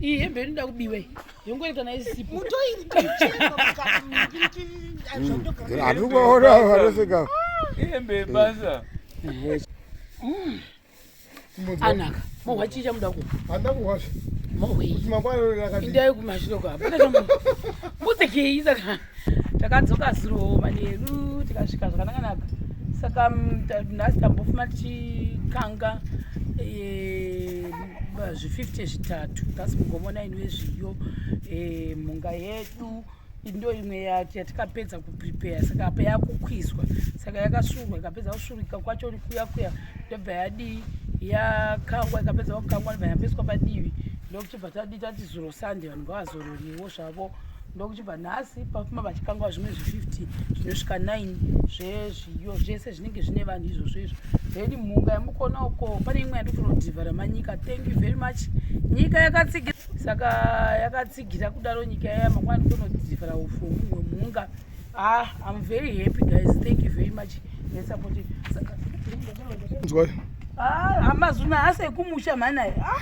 iyi hembe inoda kubiwa iyi yongoita kana isipo hatikuona vanoseka hembe yebasa anaka mohwa chii chamuda ku handa kuhwazve mohwei kuti mangwana rakaindai kumashure kwa pane chamu mbudzekei saka takadzoka zuro manheru tikasvika zvakanakanaka saka mm, nhasi tambofuma tichikanga eh, zvi50 zvitatu thats mugomo naini wezviyo eh, mhunga yedu ndo imwe yatikapedza kuprepare saka apa yakukwizwa saka yakasurwa ikapedza kusurika kwacho kuya kuya ndobva yadii yakangwa ikapedza kukangwa ndobva yambeswa padivi ndokuchibva tadii tati zuro sunday vanhu ngavazororiwo zvavo ndokuchi kubva nhasi pafuma vachikangwa zvimwe zve50 zvinosvika 9 zvezviyo zvese zvinenge zvine vanhu izvozvo izvo then mhunga yamukona uko pane imwe yandikutonodhivhara manyika thank you very much nyika yakatsigira saka yakatsigira kudaro nyika yaya makwa ndikutonodhivhara ufu humwe mhunga ah im very happy guys thank you very much nesupport saka amazuna ah, hasi ekumusha mhanaye ah.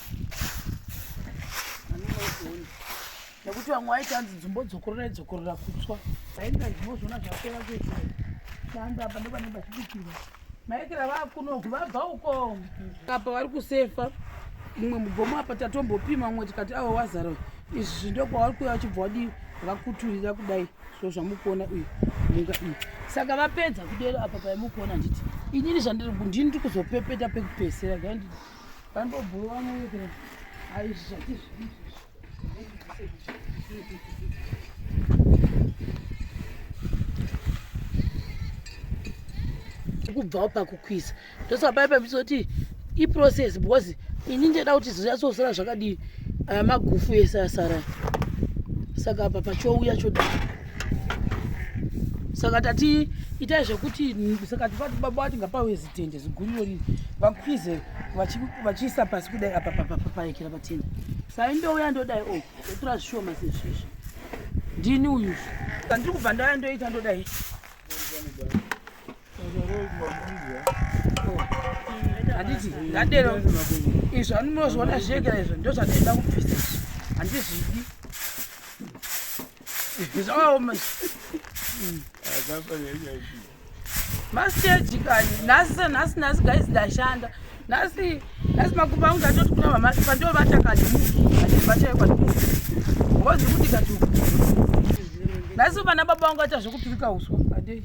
nekuti vamwe vaiti hanzi dzumbo dzokorora idzokorora kutswa ainga zvinozvona zvapera kuita shanda apa ndopane pachibikirwa maekera vakunoku vabva uko apa vari kusefa mumwe mugomo apa tatombopima mumwe tikati avo wazara izvi ndokwavari kuya vachibva wadii vakuturira kudai so zvamukuona uyu munga iyi saka vapedza kudero apa paimukuona handiti inini zvandiri ndini ndiri kuzopepeta pekupesera Vambobhuwa muwekera. Hayi zvati kubvawo pakukwisa ndosaka pai pamisoti iprocess because ini ndida kuti zvizatsosara zvakadii aya magufu ese asara saka apa pachouya chodii saka tati itai zvekuti saka tivati baba vati ngapawe zitende ziguriro riri vakwize vachiisa pasi kudai apa papapaekera patende sai ndouya ndodai o oh, otora zvishoma sezvizvi ndini uyu andiri kubva ndaya ndoita ndodai handiti ndadero izvo anonozviona zvekera izvo ndozvandaida kubvisa izvi handizvidi zvakaoma masteji kani nhasi senhasi nhasi guys ndashanda nhasi nhasi makumba angu ndatoti kuna mama pandiwo vatakadimukivachaekwa ngozi kuti kati nhasi vana baba vangu vaita zvekupirika uswa adei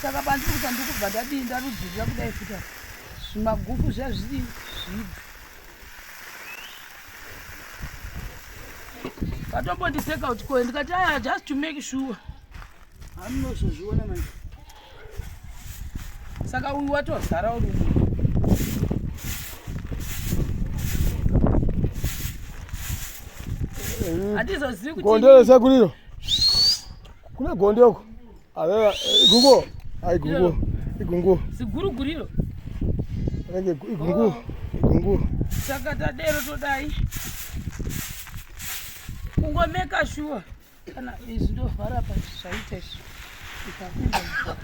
saka pandiri kuti ndikubva ndadii ndarudzirira kudai futa zvimagufu zviya zviri zvidzi vatombondiseka kuti koe ndikati aya just to make sure hamunozozviona manje saka uyu watozara uri handizozivi kuti gonde resekuriro kune gonde uko Aveva igungu. Ai gungu. Igungu. Siguru guriro. Renge igungu. Oh. Igungu. Saka tadero todai. Kungomeka shuwa. Kana izvi ndovhara pa zvaita izvi. Ikapinda.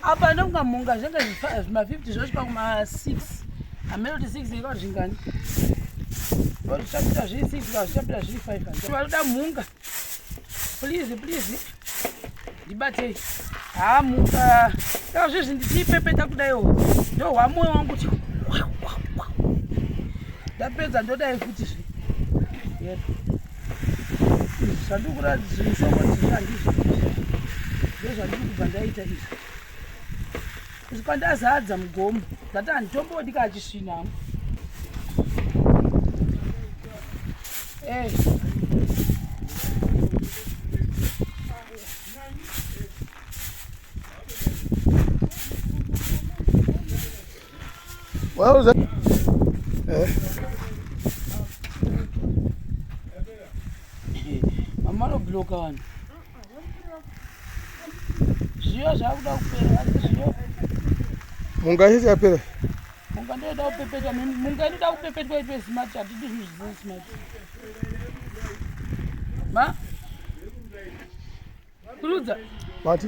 Apa ndokunga munga zvanga zvima 50 zvosvika kuma 6. Ameno kuti 6 ikwa zvingani. Vanochapita zviri 6 vanochapita zviri 5. Vanoda munga. Please, please. Ndibatei. Hamuka. Saka zvezvi ndichipepeta kudaiwo. Ndo hwamoyo wangu kuti ndapedza ndodai futi zve. Yep. Zvandikuratidza zvishoma zvizvi handizvo. Ndozvandiri kubva ndaita izvi. Zvipandazadza mugomo zati handitombodi ka achisvina hangu What was that? Eh. Mama, no block on. zviyo zvakuda kupera asi zviyo munga yese yapera munga ndoda kupepetwa munga inoda kupepetwa itwe smart hatidi zvinhu zvisiri smart ma kurudza vati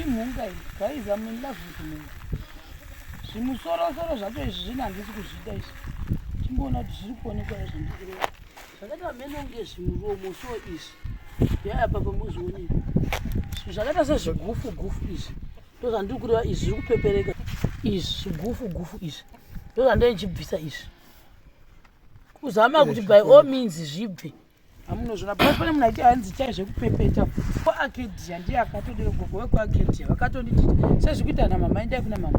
imhunga iyi guys am in love with mhunga zvimusorosoro zvacho izvi zvine handisi kuzvida izvi timboona kuti zviri kuonekwa izvi ndikureva zvakaita vamene kunge zvimuromo so izvi yaya papa mozvioneka zvinhu zvakaita sezvigufu gufu izvi ndozvandiri kureva izvi zviri kupepereka izvi zvigufu gufu izvi ndozvandiri ndichibvisa izvi kuzama kuti by all means zvibve hamunozvona bcause pane munhu aiti hanzi chai zvekupepeta kuakedia ndiye akatodero gogo vekuakedia vakatonditi sezvikuita na mama endai kuna mama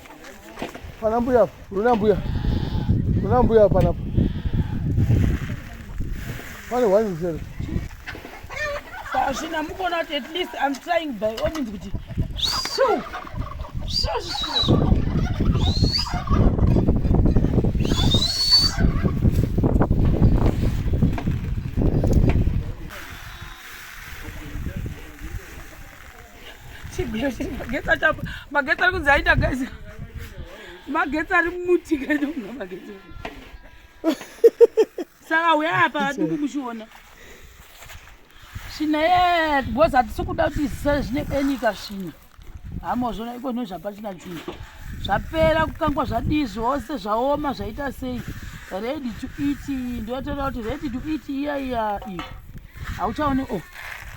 Pana mbuya, runa mbuya. Runa mbuya pana. Pane wani mzere. Sashina mukona kuti at least I'm trying by all means kuti. Shoo. Shoo. Shoo. magetsi achapa magetsi ari kunzi aita guys magetsi ari muti kaitounga magetsi saka uya apa aduku kuchiona svina ye because hatisi kuda kuti zisare zvine enika svina hamozvona iko no zvapachina chunhu zvapera kukangwa zvadii zvose zvaoma zvaita sei ready to eat ndotoda kuti ready to eat iya iya iyi hauchaone o oh.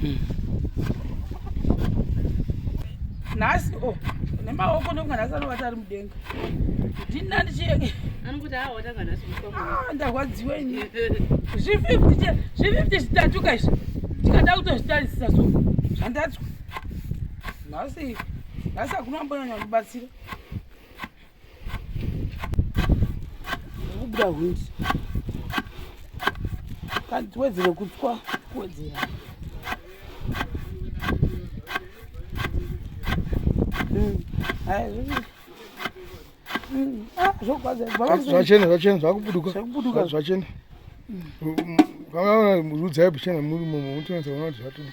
hmm. nhasi o oh, nemaoko nekunga nhasi anovata ari mudenga ndina ndichienge ah, ndarwadziwa ini zvififty zvififty zvitatu ka izvi ndikada kutozvitarisisa so zvandatswa nhasi nhasi hakuna ambonyanya kundibatsira kubuda hwindi kanti tiwedzere kutswa kuwedzera hmm. hmm. ah, zvachena zvachena zvakubuduka zvachena hmm. rudzai buchena muri mumo mutonatsa kuona kuti zvatoo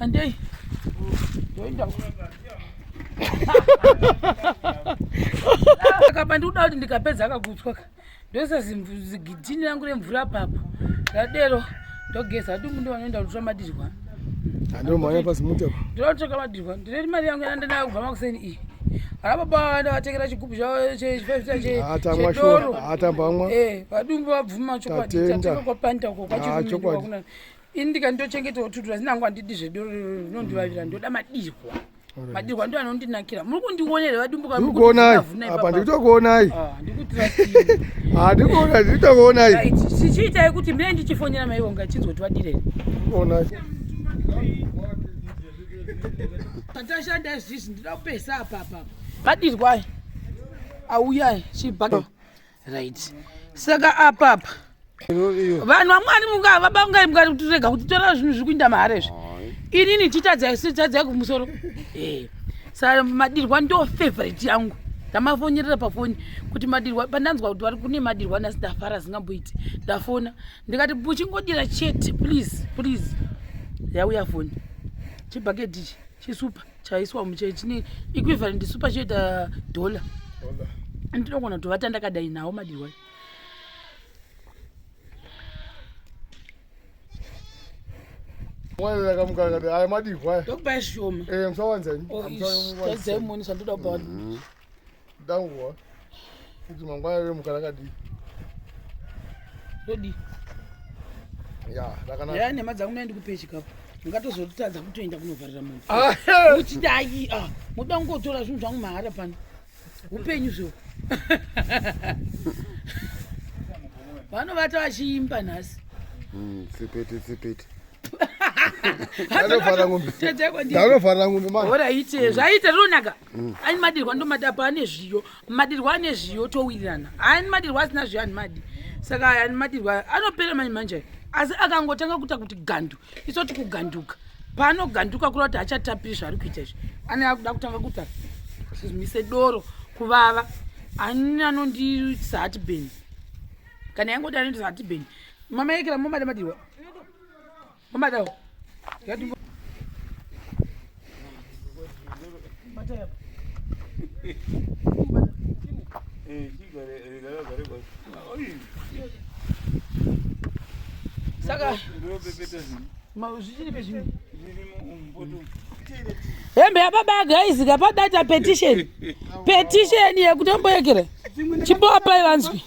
Andei. Ndoenda. Saka pandikuda kuti ndikapedza akagutswa ka. Ndoisa zigidhini rangu remvura papa. Ndadero ndogeza kuti mundu vanoenda kutora madirwa. Andiro mhanya pasi muti apa. Ndiro kutora madirwa. Ndine mari yangu yanda nayo kubva makuseni iyi. Ana baba vanda vatengera chigubhu chavo chechifefita chedoro. Atambamwa. Eh, vadumbu vabvuma chokwadi. Tatenda. Tatenda kwa panta uko kwa chigubhu. ini ndikandochengetao tutu asi nangu andidi zvedoro rinondivavira ndoda madirwa madirwa ndo anondinakira muri kundionera vadumbuka ndikuonai apa ndikutokuonai handikuona ndikutokuonai chichiitai kuti mine ndichifonera maivo ngachinzwa kuti vadirei onai patashanda izvizvi ndinoda kupesa apapa madirwai auyai chibhaka right saka apapa vanhu vamwari munga vabangai mukati kuti rega kuti tora zvinhu zviri kuinda mahara izvi inini titadzai tadzai kumusoro eh, sa madirwa ndo favorite yangu ndamafonyerera pafoni kuti madirwa pandanzwa kuti vari kune madirwa ndasi ndafara zingamboiti ndafona ndikati uchingodira chete please please yauya foni chibhakedichi chisupa chaiswa muchai chine equivalent isu pachiita dollar ndinogona tovata ndakadai nawo madirwai mwana akamukaakati aya madihwa ndokupai zvishoma eh, musawanzani oh, zvandoda kupa mm-hmm. danguva kuti mangwana remuka rakadii todii ya rakanaka ya nema dzangu naye ndikupe chikafu ungatozotadza kutoenda kunovharira munhu ah, kuti dai ah, moda kungotora zvinhu zvangu mahara pano upenyu zvo vanovata vachiimba nhasi hmm, tsipete tsipete anovhara ngombe anovhara ngombe manje ora ite zvaita ronaka mm. ani madirwa ndomadi apa ane zviyo madirwa ane zviyo towirirana ani madirwa asina zviyo ani madi saka ani madirwa anopera manje manje asi akangotanga kuita kuti gandu isoti kuganduka paanoganduka kura kuti hachatapiri zvaari kuita izvi ane akuda kutanga kuta zvimise doro kuvava ani anondiitisa hatibeni kana yangoti anoitisa hatibeni mama yekera momada madirwa Mama Saka hembe yababa agaizika padata petition petition yekutomboyekere chimboapai vanzwi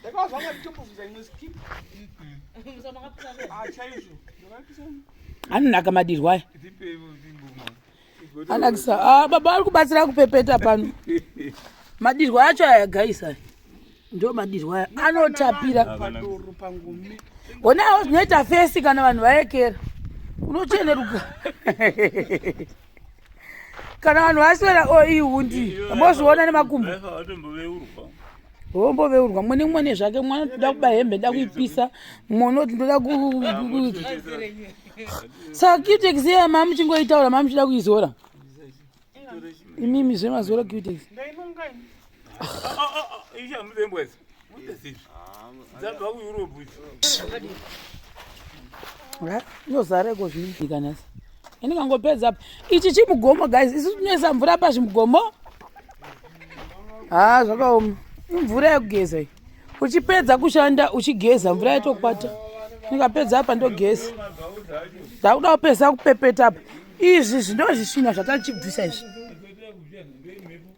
Ndakawa zvanga nditombofunza imwe skip. Ah, chaizvo. Anonaka madirwa aya. Anakisa. Ah, baba vari kubatsira kupepeta pano. Madirwa acho aya guys aya. Ndo madirwa aya. Anotapira. Onawo zvinoita fesi kana vanhu vaekera. Unocheneruka. kana vanhu vaswera o oh, ihundi mozviona nemakumbo womboveurwa mwene mwene zvake mwana toda kuba hembe nda kuipisa mwana oti ndoda saka cutex iya mama muchingoitaura mama muchida kuizora imimi zvemazora cutex ah, ah, ah, yozareko zviikanasa ini kangopedza apa ichi chimugomo guys isu tinoisa mvura apa zvimugomo haa zvakaoma imvura yekugeza iyi uchipedza kushanda uchigeza mvura yatokwata ndikapedza apa ndogeza ndakuda kupedza kupepeta apa izvi zvinozvisvina zvatachibvisa izvi